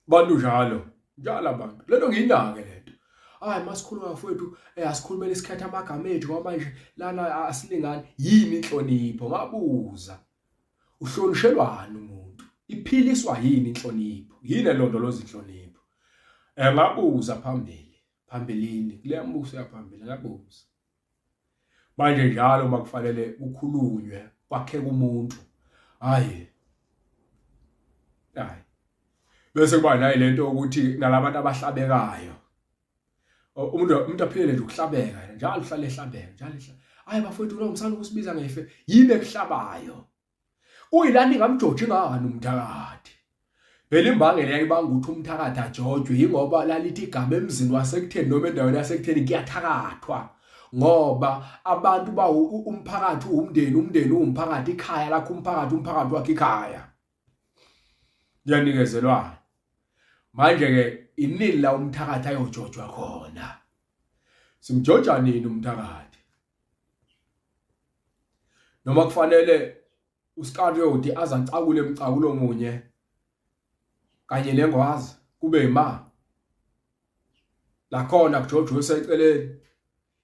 bantu njalo njalo abantu lento ngiyinake lento hayi masikhuluma mfowethu eh, asikhulumele isikhathi amagama ethu kwamanje lana asilingani yini inhlonipho ngabuza uhlonishelwani umuntu iphiliswa yini inhlonipho yini elondoloza inhlonipho eh ngabuza phambili phambilini kule mbuso yaphambili ngabuza manje njalo uma kufanele kukhulunywe kwakheka umuntu hayi hayi bese kuba nayi lento ukuthi nalabantu abahlabekayo umuntu umuntu aphilele nje ukuhlabeka njalo uhlale ehlabeka njalo ehlabeka hayi bafowethu lo ngisana ukusibiza ngefe yibe kuhlabayo kuyilani ngamjoji ngani umthakathi phela imbangela yayibanga ukuthi umthakathi ajojwe yingoba lalithi igama emzini wasekutheni noma endaweni yasekutheni kuyathakathwa ngoba abantu ba umphakathi uwumndeni umndeni uwumphakathi ikhaya lakho umphakathi umphakathi wakhe ikhaya kuyanikezelwana manje ke inini la umthakathi ayojojwa khona simjoja nini umthakathi noma kufanele uSkariyoti aze acakule emcakulo munye kanye nengwazi kube ima lakhona kuJojo useceleni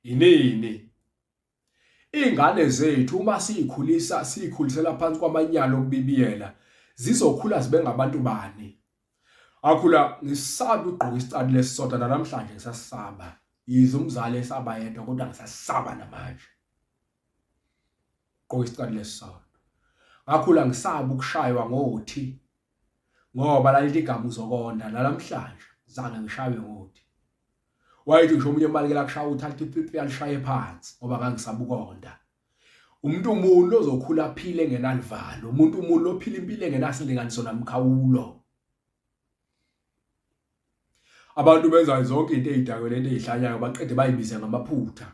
yinini ingane zethu uma siyikhulisa sikhulisela phansi kwamanyala okubibiyela zizokhula zibe ngabantu bani akhula ngisaba ugqoka isicathulo lesisodwa namhlanje ngisasaba yize umzali esaba yedwa kodwa ngisasaba namanje gqoka isicathulo lesisodwa ngakhula ngisaba ukushaywa ngothi ngoba lalithi igama uzokonda nalamhlanje zange ngishaywe ngothi wayethi ngisho umunye emalekela kushaya uthi athi pipi alishaye phansi ngoba ngangisabukonda umuntu umuntu ozokhula aphile ngenalivalo umuntu umuntu ophila impilo engenasilinganiso namkhawulo abantu benza zonke into ezidakwe lento ezihlanyayo baqede bayibiza ngamaphutha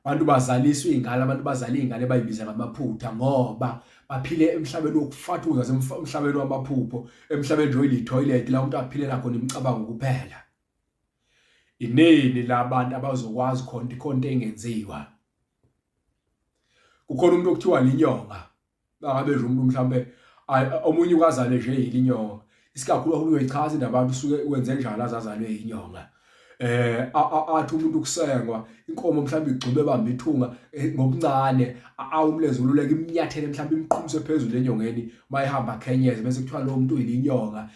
abantu bazaliswa ingane abantu bazala ingane bayibiza ngamaphutha ngoba baphile emhlabeni wokufatuza emhlabeni wamaphupho emhlabeni nje oyilithoyilet la umuntu aphilela khona imicabango kuphela ineni labantu abazokwazi khona ikhonto engenziwa kukhona umuntu okuthiwa linyonga bangabe nje umuntu mhlambe omunye ukazale nje yilinyonga isikakhulu uhulumeni uyichaza into abantu usuke wenze njalo azazalwe yinyonga eh athi umuntu ukusengwa inkomo mhlawumbe igxube bamba ithunga eh, ngokuncane awumlenze ululeke imnyathele mhlawumbe imqhumise phezulu enyongeni mayihamba khenyeze bese kuthiwa lo muntu uyinyonga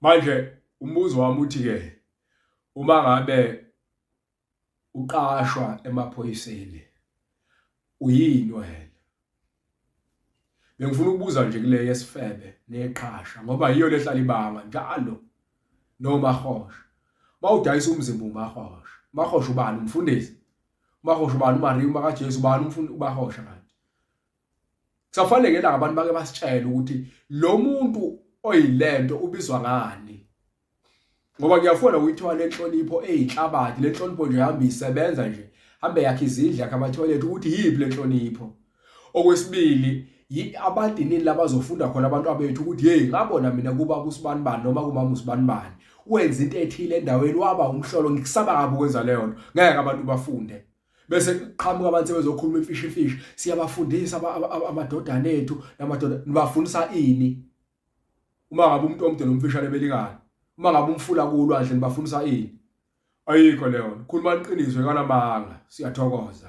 manje umbuzo wami uthi ke uma ngabe uqashwa emaphoyiseni uyini wena bengifuna ukubuza nje kule yesifebe neqhasha ngoba yiyo lehlala ibanga njalo nomahosha bawudayisa umzimba umahosha mahosha ubani umfundisi mahosha ubani umariya uma kaJesu ubani umfundi ubahosha kanti Kusafanele la abantu bake basitshele ukuthi lo muntu oyilento ubizwa ngani. Ngoba kuyafuna ukuyithola lenhlonipho eyihlabathi, lenhlonipho nje ihamba isebenza nje. Hambe yakhe izindla yakhe amathoyilethi ukuthi yiphi lenhlonipho. Okwesibili abadinini labazofunda khona abantu abethu ukuthi hey ngabona mina kuba kusibani bani noma kumama usibani bani wenza into ethile endaweni waba umhlolo ngikusaba kabi ukwenza leyo nto ngeke abantu bafunde bese qhamuka abantu sebezokhuluma imfishi fishi siyabafundisa amadodana ethu namadoda nibafundisa ini uma ngabe umuntu omde nomfishane belikana uma ngabe umfula kulwandle nibafundisa ini ayikho leyo khuluma iqiniso ekanamanga siyathokoza